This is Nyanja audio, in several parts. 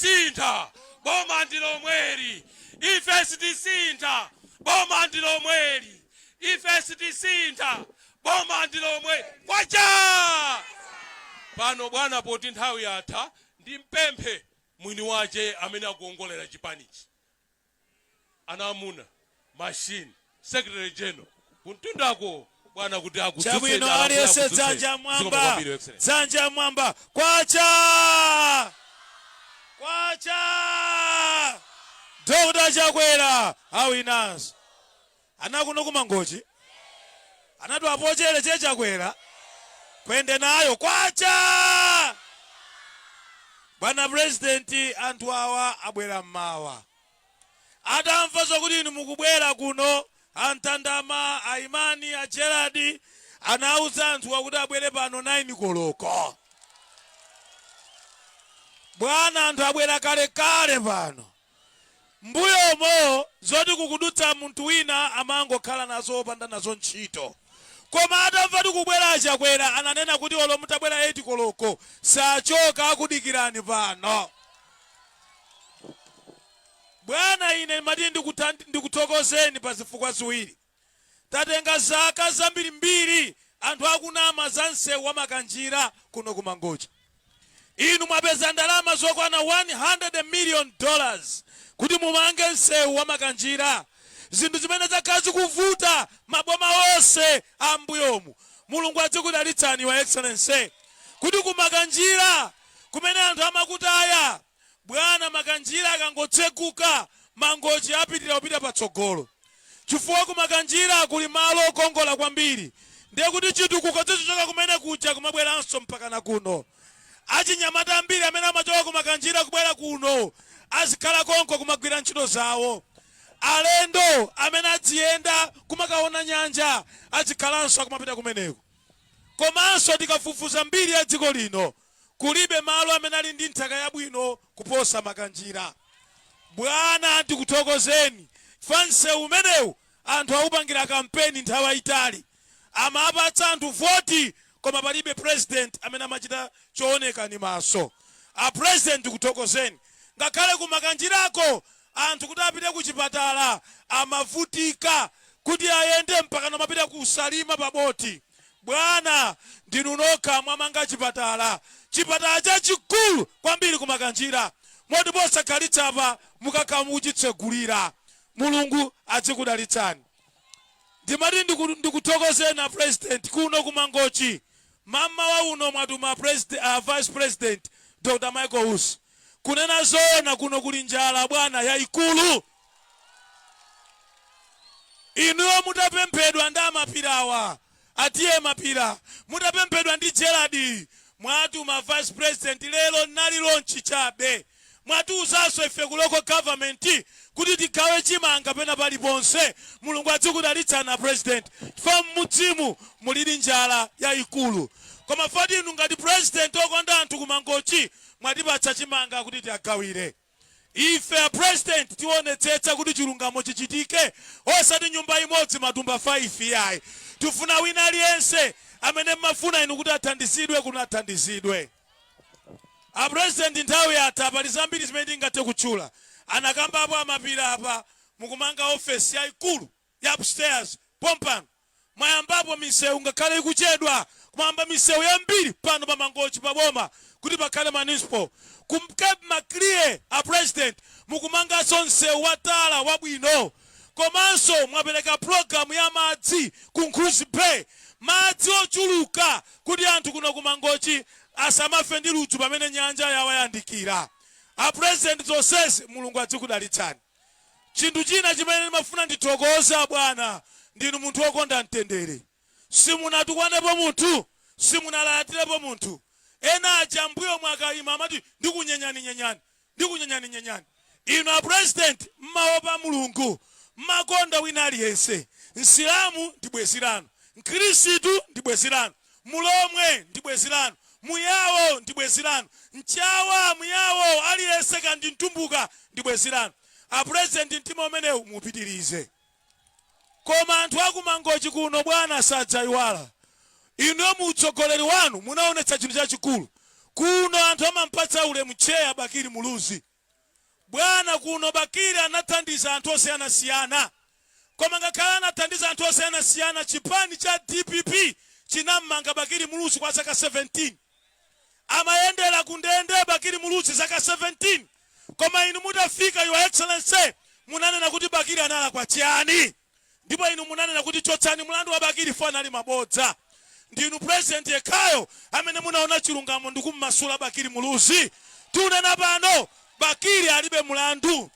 Sitisintha, boma ndi lomweli, ife sitisintha, boma ndi lomweli, ife sitisintha, boma ndi lomweli. Kwacha! Pano bwana poti nthawi yatha ndimpemphe mwini wache amene akuongolera chipanichi ana amuna machine secretary general kuntundako bwana kuti akudzutseni Chabwino Alamula aliyense akudzutseni. dzanja Zikomo mwamba. kwambiri, Your Excellency. Dzanja mwamba. Kwacha! Kwacha! Dr. Chakwera awinanso. Ana kuno ku mangochi anatu apochere Che Chakwera kwende nayo kwacha bwana president anthu awa abwera mmawa atamva zokuti inu mukubwera kuno antandama aimani a gerard anauza anthuwa kuti abwere pano 9 koloko bwana anthu abwera kalekale pano mbuyomo zoti kukudutsa munthu wina amangokhala nazo opanda nazo ntchito koma atamva kuti kubwera a Chakwera ananena kuti olo mutabwera 8 koloko sachoka akudikirani pano bwana ine ndimati ndikuthokozeni pa zifukwa ziwiri Tatenga zaka zambirimbiri anthu akunama za nseu wa Makanjira kuno ku Mangochi. Inu mwapeza ndalama zokwana 100 million dollars kuti mumange nseu wa Makanjira zinthu zimene zakhala zikuvuta maboma onse a m'mbuyomu. Mulungu adzikudalitsani your excellency kuti ku Makanjira kumene anthu amakutaya. Bwana Makanjira akangotsekuka, Mangochi apitira kupita patsogolo chifukwa ku Makanjira kuli malo okongola kwambiri ndekuti chitukuko chizichoka kumene kuja kumabweranso mpakana kuno. Achinyamata ambiri amene amachoka ku Makanjira kubwera kuno azikhala konko kumagwira ntchito zawo. Alendo amene adziyenda kumakaona nyanja adzikhalanso akumapita kumeneko. Komanso tikafufuza mbiri ya dziko lino Kulibe malo amene ali ndi nthaka yabwino kuposa Makanjira. Bwana ndikuthokozeni chifukwa msewu umenewu anthu awupangira kampeni nthawi yayitali. Amapatsa anthu voti koma palibe president amene amachita chooneka ndi maso. A president ndikuthokozeni. Ngakhale ku Makanjirako anthu kuti apite ku chipatala amavutika kuti ayende mpakana kumapita ku Salima pa boti. Bwana, ndinu nokha mwamanga chipatala, chipatala chachikulu kwambiri ku Makanjira, moti posakhalitsa apa mukakhala mukuchitsegulira. Mulungu adzikudalitsani. Ndimati ndikuthokozeni a President kuno ku Mangochi, mammawa uno mwatuma Vice President Dr Michael Usi. Kunena zoona kuno kuli njala bwana, yaikulu. Inuyo mutapemphedwa ndi a Mapira-wa, a T. A. Mapira, mutapemphedwa ndi Gerald, mwatuma vice president lero nali launch chabe. Mwatiuzanso ife ku local government kuti tigawe chimanga pena paliponse. Mulungu adzikudalitsani a president chifukwa m'midzimu mulidi njala yaikulu. Koma foti inu ngati president okonda anthu ku Mangochi mwatipatsa chimanga kuti tiagawire. Ife a president tionetsetsa kuti chilungamo chichitike osati nyumba imodzi matumba 5 iyayi. Tifuna wina aliyense amene mumafuna inu kuti athandizidwe kuno athandizidwe. A president nthawi yatha pali zambiri zimene ndingathe kutchula anakambapo a Mapira-pa mukumanga office yaikulu. ya upstairs pompano mwayambapo misewu ngakhale ikuchedwa koma mwayamba misewu yambiri pano pa mangochi pa boma kuti pakhale municipal ku cape maclear a president mukumanganso msewu wa tala wabwino komanso mwapereka program ya madzi ku nkhudzi bay madzi ochuluka kuti anthu kuno ku mangochi asamafe ndi ludzu pamene nyanja yawayandikira a president zonsezi mulungu adzikudalitsani Chinthu china chimene ndimafuna ndithokoze abwana, ndinu munthu wokonda mtendere. Simunatukwanepo munthu, simunalalatirepo munthu. Ena aja m'mbuyomu akaima amati ndikunyenyaninyenyani, ndikunyenyaninyenyani. Inu a president mumaopa Mulungu, mumakonda wina aliyense. Msilamu ndi bwezi lanu, mkhristu ndi bwezi lanu. Mulomwe ndi bwezi lanu, Muyawo ndi bwezi lanu, Mchawa, Muyawo aliyense kaya ndi Mtumbuka ndi bwezi lanu. A president mtima umenewu muupitirize. Koma anthu aku Mangochi kuno bwana sadzaiwala. Inuyo mu utsogoleri wanu munaonetsa chinthu chachikulu. Kuno anthu amampatsa ulemu Tcheya Bakili Muluzi. Bwana, kuno Bakili anathandiza anthu osiyanasiyana, koma ngakhale anathandiza anthu osiyanasiyana, chipani cha dpp chinam'manga Bakili Muluzi kwa zaka 17. Amayendera ku ndende Bakili Muluzi zaka 17, koma inu mutafika, Your Excellency, munanena kuti Bakili analakwa chiyani? ndipo inu munanena kuti chotsani mlandu wa Bakili chifukwa anali mabodza. Ndinu president yekhayo amene munaona chilungamo ndikumumasula Bakili Muluzi. Tikunena pano Bakili alibe mlandu.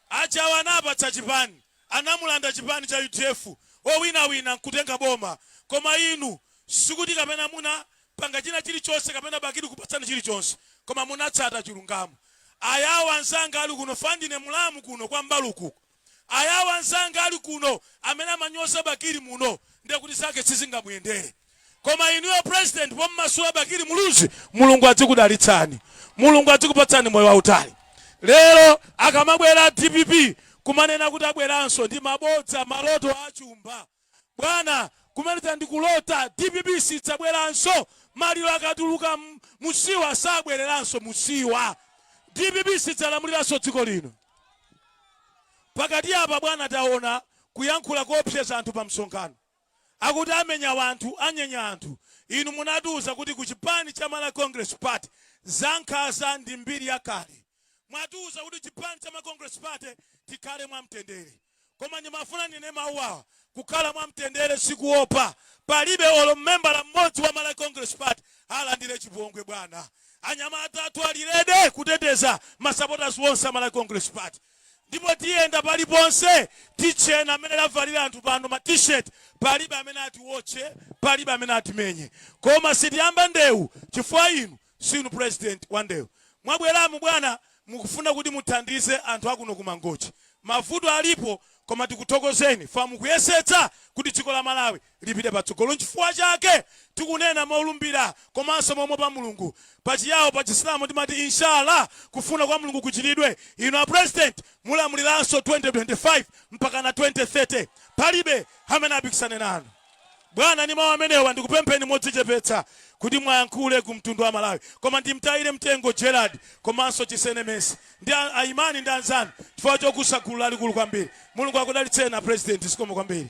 Achawa anapatsa chipani, anamulanda chipani cha udf, owinawina nkutenga boma. Koma inu sikuti kapena muna panga china chilichonse kapena Bakili kupatsani chilichonse koma munatsata chilungamo. Ayawo anzanga ali kuno fwa ndine mulamu kuno kwa Mbaluku. Ayao anzanga ali kuno amene amanyoza Bakili muno ndiye kuti zake sizingamuyendere koma inuyo president pommasula Bakili Muluzi Mulungu adzikudalitsani Mulungu adzikupatsani moyo wautali. Lero akamabwera a dpp kumanena kuti abweranso ndi mabodza maloto a chumba. Bwana kumaliza ndi kulota dpp sidzabweranso maliro akatuluka m'siwa sabwereranso m'siwa dpp sidzalamuliranso dziko lino pakati apa bwana taona kuyankhula koopseza anthu pa msonkhano akuti amenya wanthu anyenya anthu inu munatiuza kuti ku chipani cha malawi congress party zankhaza ndi mbiri yakale mwatiuza kuti chipani cha malawi congress party tikhale mwamtendere Koma ndimafuna ndinene mawu awa, Kukhala mwamtendere si kuopa. Palibe olo membala mmodzi wa Malawi Congress Party alandire chipongwe bwana. Anyamata athu ali ready kuteteza ma supporters onse a Malawi Congress Party. Ndipo tiyenda paliponse titchena mmene avalira anthu pano ma T-shirt. Palibe amene atiotche, palibe amene atimenye. Koma sitiyamba ndewu chifukwa inu Sinu president wandewu. Mwabweramu bwana mukufuna kuti muthandize anthu akuno ku Mangochi. Mavuto alipo koma tikuthokozeni fwa mukuyesetsa kuti dziko la Malawi lipite patsogolo. Nchifukwa chake tikunena molumbira komanso momuopa Mulungu. Pa Chiyao, pa Chisilamu timati Inshallah, kufuna kwa Mulungu kuchitidwe. Inu a president mulamuliranso 2025 mpakana 2030. Palibe amene apikisane nanu. Bwana ndi mau amenewa ndikupempheni modzichepetsa kuti muwayankhule ku mtundu wa Malawi koma ndimtayire mtengo Gerald komanso Chisene Mercy ndi a a Imani ndi anzanu chifukwa chokusa gulu lalikulu kwambiri. Mulungu akudalitseni a President zikomo kwambiri.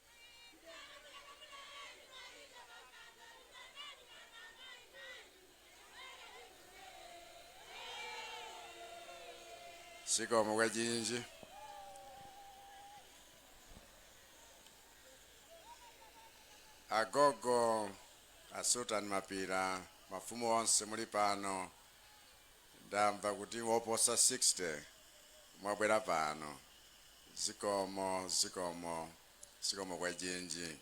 sikomo kwejinji agogo a sultan mapira mafumu onse muli pano Ndamva kuti oposa 60 mwabwera pano. Zikomo, zikomo, zikomo kwejinji.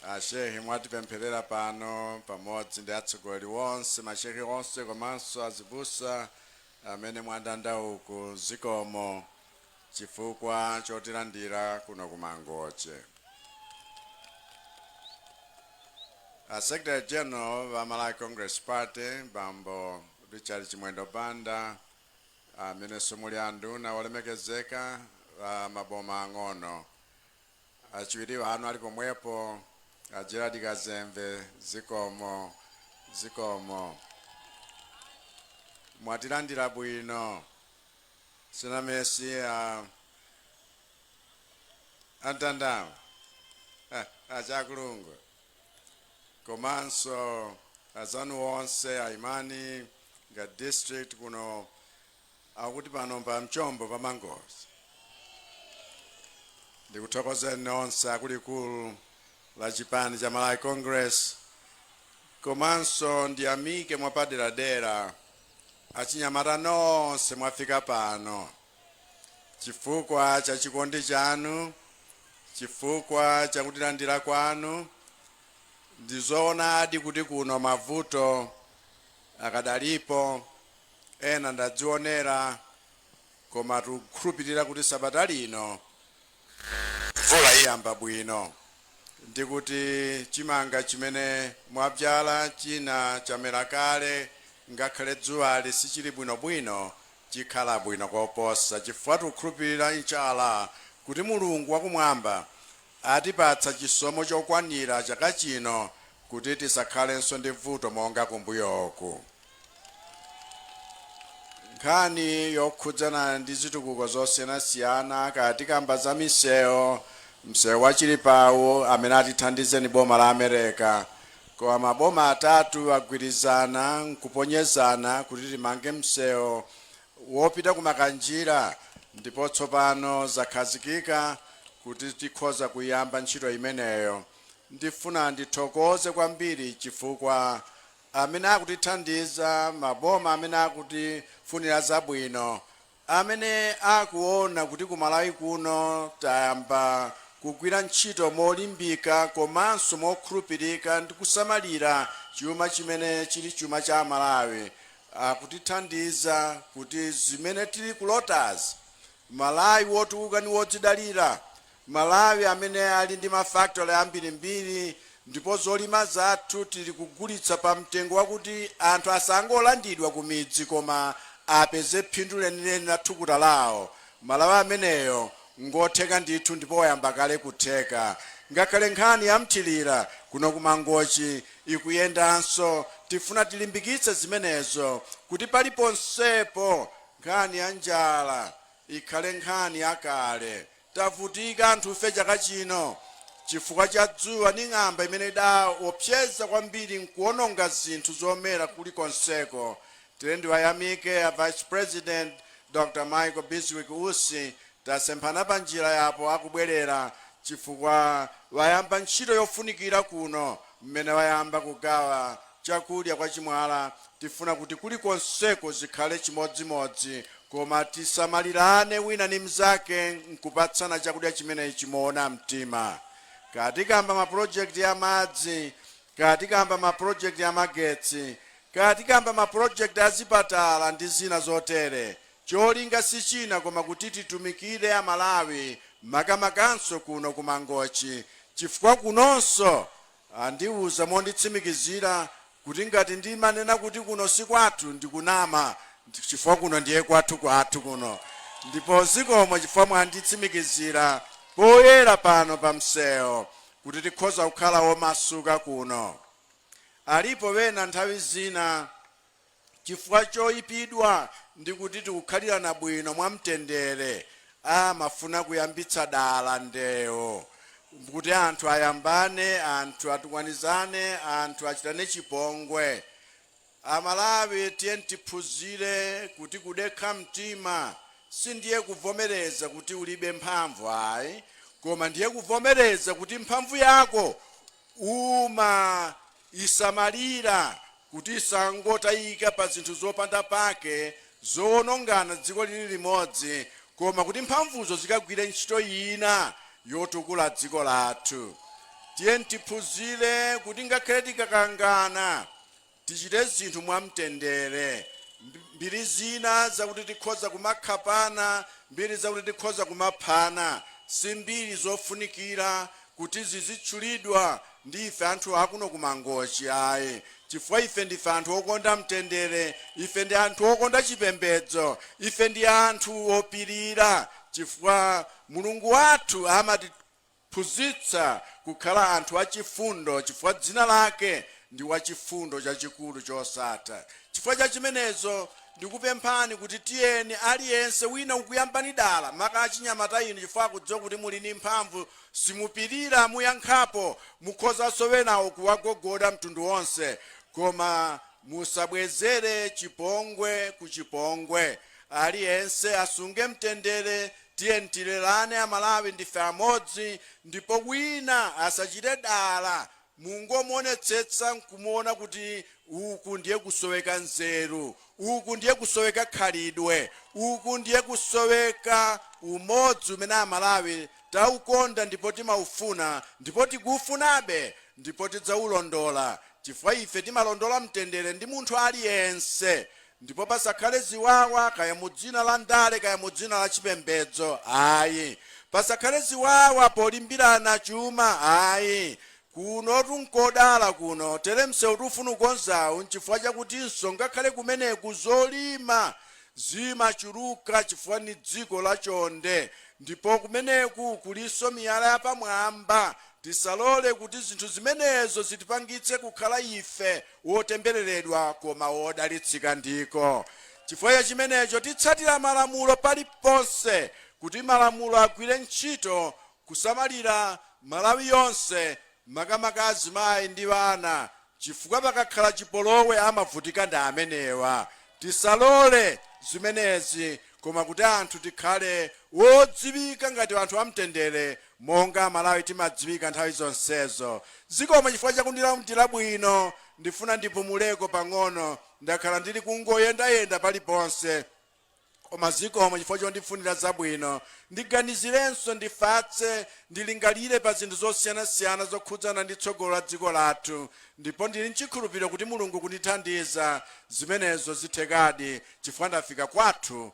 A Shehe mwatipempherera pano pamodzi ndi atsogoleri onse, ma Shehe onse komanso azibusa amene mwandanda uku. Zikomo. chifukwa chotilandira kuno ku Mangochi. A Secretary General a Malawi Congress Party bambo Richard Chimwendo Banda amenenso muli anduna olemekezeka a maboma ang'ono achiwiri anu ali pomwepo a Gerald Kazembe zikomo zikomo mwatilandira bwino Sina Mesi a Mtanda wa Chakulungu komanso azanu onse aimani nga district kuno akuti pano pa mchombo pa Mangochi ndikuthokozeni nonse a kulikulu la chipani cha Malawi Congress komanso ndiyamike mwapaderadera Achinyamata nonse mwafika pano chifukwa cha chikondi chanu, chifukwa cha kutilandira kwanu. Ndi zoonadi kuti kuno mavuto akadalipo, ena ndadzionera, koma tikukhulupirira kuti sabata lino Mvula iyamba bwino ndi kuti chimanga chimene mwabzala china chamera kale ngakhale dzuwali sichili bwinobwino chikhala bwino koposa chifukwa tikukhulupirira Insha Allah kuti Mulungu wa kumwamba atipatsa chisomo chokwanira chaka chino kuti tisakhalenso ndi vuto monga kumbuyoku. nkhani yokhudzana ndi zitukuko zosiyanasiyana kaya tikamba za misewu msewu wa Chilipa uwu amene atithandize ni boma la America koma maboma atatu agwirizana nkuponyezana kuti timange msewu wopita ku Makanjira ndipo tsopano zakhazikika kuti tikhoza kuyamba ntchito imeneyo ndifuna ndithokoze kwambiri chifukwa amene akutithandiza, maboma amene akutifunira zabwino, amene akuona kuti ku Malawi kuno tayamba kugwira ntchito molimbika komanso mokhulupirika ndi kusamalira chuma chimene chili chuma cha Amalawi, akutithandiza kuti zimene tili kulotazi, Malawi wotukuka ndi wodzidalira, Malawi amene ali ndi ma factory ambirimbiri ndipo zolima zathu tili kugulitsa pa mtengo wakuti anthu asangolandidwa ku midzi koma apeze phindu lenileni la thukuta lawo, Malawi ameneyo ngotheka ndithu ndipo wayamba kale kutheka. Ngakhale nkhani ya mthilira kuno ku Mangochi ikuyendanso. Tifuna tilimbikitse zimenezo kuti paliponsepo nkhani ya njala ikhale nkhani yakale. Tavutika anthufe chaka chino chifukwa cha dzuwa ndi ng'amba imene idaopseza kwambiri n'kuwononga zinthu zomera kulikonseko. Ndiye ndiwayamike a Vice President Dr. Michael Bizwick Usi. Tasemphana panjira yapo akubwerera chifukwa wayamba ntchito yofunikira kuno mmene wayamba kugawa chakudya kwa Chimwala tifuna kuti kulikonseko zikhale chimodzimodzi koma tisamalirane wina ni mzake nkupatsana chakudya chimenechi moona mtima kaya tikamba ma project a madzi kaya tikamba ma project a magetsi kaya tikamba ma project a zipatala ndi zina zotere cholinga si china koma kuti titumikire Amalawi makamakanso kuno ku Mangochi chifukwa kunonso andiuza monditsimikizira kuti ngati ndimanena kuti kuno si kwathu ndikunama chifukwa kuno ndiye kwathu kwathu kuno ndipo zikomo chifukwa mwanditsimikizira poyera pano pa msewu kuti tikhoza kukhala omasuka kuno. Alipo wena nthawi zina. chifukwa choipidwa ndi kuti tikukhalirana bwino mwamtendere, amafuna kuyambitsa dala ndewo kuti anthu ayambane, anthu atukwanizane, anthu achitane chipongwe. Amalawi tiyeni tiphunzire kuti kudekha mtima sindiye kuvomereza kuti ulibe mphamvu ayi, koma ndiye kuvomereza kuti mphamvu yako uma isamalira kuti isangotayika pa zinthu zopanda pake zowonongana dziko lili limodzi koma kuti mphamvuzo zikagwire ntchito ina yotukula dziko lathu. Tiyeni tiphunzire kuti ngakhale tikakangana, tichite zinthu mwamtendere. Mbiri zina zakuti tikhoza kumakhapana mbiri zakuti tikhoza kumaphana si mbiri zofunikira kuti zizitchulidwa ndi ife anthu akuno ku Mangochi ayi chifukwa ife ndife anthu okonda mtendere, ife ndi anthu okonda chipembedzo, ife ndi anthu opirira chifukwa Mulungu wathu amatiphunzitsa kukhala anthu achifundo chifukwa dzina lake ndi Wachifundo chachikulu chosatha. Chifukwa cha chimenezo ndikupemphani kuti tiyeni aliyense, wina akuyambani dala, maka achinyamata inu chifukwa akudziwa kuti muli ndi mphamvu, simupirira muyankhapo mukhoza enawo kuwagogoda mtundu wonse koma musabwezere chipongwe ku chipongwe aliyense asunge mtendere tiyeni tilolerane amalawi ndife amodzi ndipo wina asachite dala Mungomuonetsetsa nkumuona kuti uku ndiye kusoweka nzeru, uku ndiye kusoweka khalidwe, uku ndiye kusoweka umodzi umene Amalawi taukonda ndipo timaufuna ndipo tikuufunabe ndipo tidzaulondola chifukwa ife timalondola mtendere ndi munthu aliyense Ndipo pasakhale ziwawa kaya mu dzina la ndale kaya mu dzina la chipembedzo ayi. Pasakhale ziwawa polimbirana chuma ayi. Kunotu n'kodala kuno, tere msewu tifuna kukonzawu n'chifukwa chakutinso ngakhale kumeneku zolima zimachuluka chifukwa ni dziko lachonde ndipo kumeneku kulinso miyala yapamwamba. Tisalole kuti zinthu zimenezo zitipangitse kukhala ife wotembereredwa koma wodalitsika ndiko chifukwa cha chimenecho titsatire malamulo paliponse kuti malamulo agwire ntchito kusamalira Malawi yonse makamaka azimayi ndi ana chifukwa pakakhala chipolowe amavutika ndi amenewa tisalole zimenezi koma kuti anthu tikhale wodziwika ngati anthu amtendere Monga amalawi timadziwika nthawi zonsezo. Zikomo chifukwa chakundilandira bwino. Ndifuna ndipumuleko pang'ono ndakhala ndili kungoyendayenda paliponse koma zikomo chifukwa chondifunira zabwino. Ndiganizirenso, ndifatse, ndilingalire pa zinthu zosiyanasiyana zokhudzana ndi tsogolo la dziko lathu ndipo ndili nchikhulupiriro kuti Mulungu kundithandiza zimenezo zithekadi chifukwa ndafika kwathu